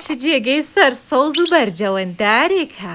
چ جێگەی سەر سەوز و بەرجەوەندارێکە.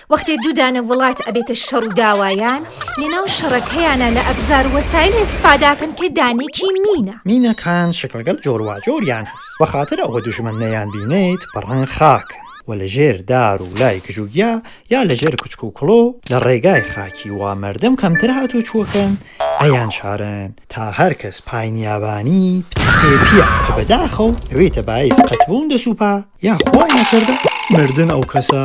وەختێ دوو دانە وڵات ئەبێتە شەڕ و داوایان، لەناو شەڕەکەیانا لە ئەبزار و وەسایل ئێسفاداکەن کە دانێکی مینە. مینەکان شکڵگەل جۆرواجۆریان هەس، وەخاتر ئەوە دوژمن نەیان بینێیت بە ڕەنگ خاکن و لە ژێر دار و لای گژ و گیا یا لە ژێر کوچک و کڵۆ لە ڕێگای خاکی وا مەردم کەمتر هاتوچووەکەن ئەیان شارن تا هەر کەس پای نیابانی پتر پێ پیە کە بەداخەو ئەوێتە بایس قەتبوون دە سوپا یا خوا ئەی کردە مردن ئەو کەسە.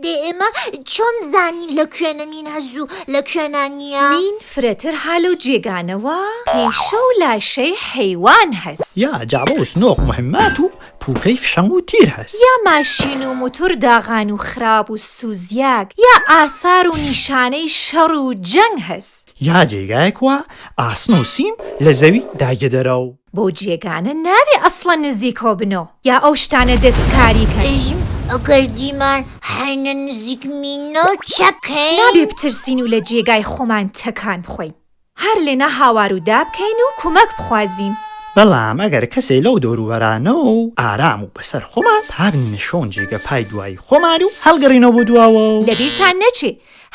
دێ ئێمە چۆن بزانین لە کوێنە مین هەز و لە کوێنا نییە؟ مین فرەتر هە لەو جێگانە وە پیشە و لاشەی حەیوان هەس. یا جەعبە و سنۆق موهیمات و پووکەی فشەنگ و تیر هەس. یا ماشین و موتور داغان و خراب و سوزیاگ یا ئاسار و نیشانەی شەڕ و جەنگ هەس. یا جێگایگ وە ئاسن و سیم لە زەوی داگیە دەرەو. بەو جێگانە نابێ ئەسڵەن نزیکەوە بنەوە یا ئەو شتانە دەستکاری کەن. ئێژم ئەگەر دیمان حەینە نزیک مینۆ چەکەین؟ نابێ بترسین و لە جێگای خۆمان تەکان بخۆین. هەر لێنا هاوار و دا بکەین و کومەک بخوازین. بەڵام ئەگەر کەسێ لەو دەوروبەرانەوە و ئارام و بەسەر خۆمان، تا بنینە شۆن جێگە پای دوایی خۆمان و هەڵگەڕینەوە بۆ دواوە و. لە بیرتان نەچێ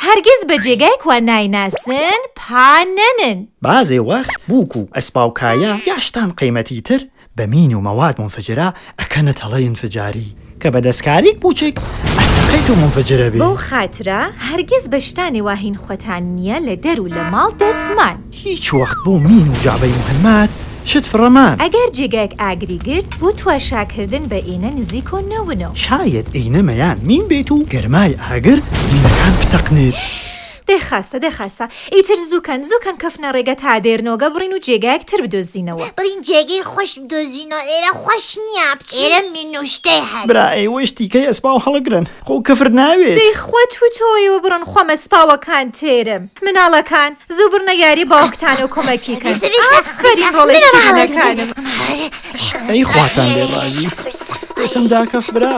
هەرگیز بە جێگای کوا نایناسن پا نەنن. بازێ وەخت بووک و ئەسپا و کایا یا شتان قەیمەتی تر بە مین و مەواد مونفجرە ئەکەنە تەڵەی ئینفجاری کە بە دەسکاریک بووچک ئەتەقیت و مونفجر ئەبێ. بەو خاترە هەرگیز بە شتانێ وا هین خوەتان نیە لە دەر و لە ماڵ دەسمان. هیچ وەخت بۆ مین و جەعبەی موحەمەد شت فڕە مەن. ئەگەر جێگایەک ئاگری گرت بۆ تواشاکردن بە ئینە نزیک و نەون و. شایەد ئینە مەیان مین بێت و گەرمای ئاگر مینەکان بتەقنێت. دەی خاستە دەی خاستە ئیتر زوو کەن زوو کەن کەفنە ڕێگە تا دێر نۆگە بڕین و جێگایەک تر بدۆزینەوە. بڕین جێگەی خۆش بدۆزینەوە ئێرە خۆش نییە بچین ئێرە مین و شتەی هەس. برا ئەی وەش تیکەی ئەسپاو هەڵگرن. خۆ کفر ناوێت. دەی خوا توو تۆوەی وبڕن خۆ مە سپاوە کان تێرم مناڵە کان زوو بڕنە یاری باوکتان و کۆمە کی کەن ئافەرین ڕۆڵە ی ژنە کانم. ئەی خواتان لێ ڕازی بێسم داکەف برا.